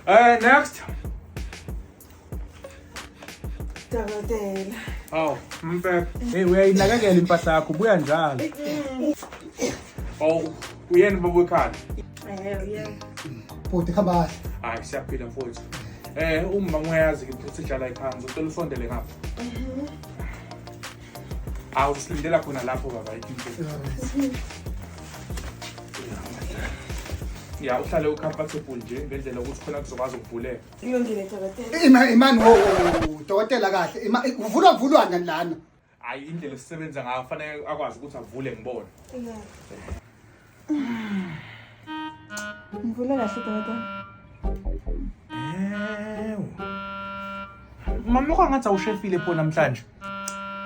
Eh, next. Dokotela. Aw, mfebe. Hey, uyayinakekela impahla yakho, buya njalo. Aw, uyena baba wekhanda. Eh, yeah. Bhuti khamba kahle. Hayi, siyaphila mfowethu. Eh, uma ngiyazi ukuthi sidlala iphansi, ucela usondele ngapha. awusilindela khona lapho baba ya uhlale ucomfortable nje ngendlela ukuthi khona kuzokwazi ukuvuleka imani wo dokotela kahle uvulwa vulwa ngani lana hayi indlela esisebenza ngayo fanele akwazi ukuthi avule ngibone Ngivule kahle dokotela. Ewu. Mama lokho ngathi awushefile pho namhlanje.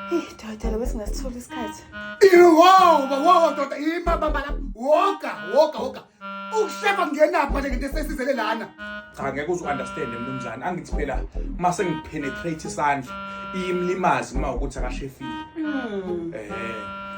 Hey dokotela besingasithola isikhathi. Wow, wow, ndoda ima baba lapha. Woka, woka, woka. Ukushefa ngenapha nje ngento esesizele lana. Cha ngeke uzu understand mnumzane angithi phela uma sengipenetrate isandla iyimlimazi uma ukuthi akashefile. Eh.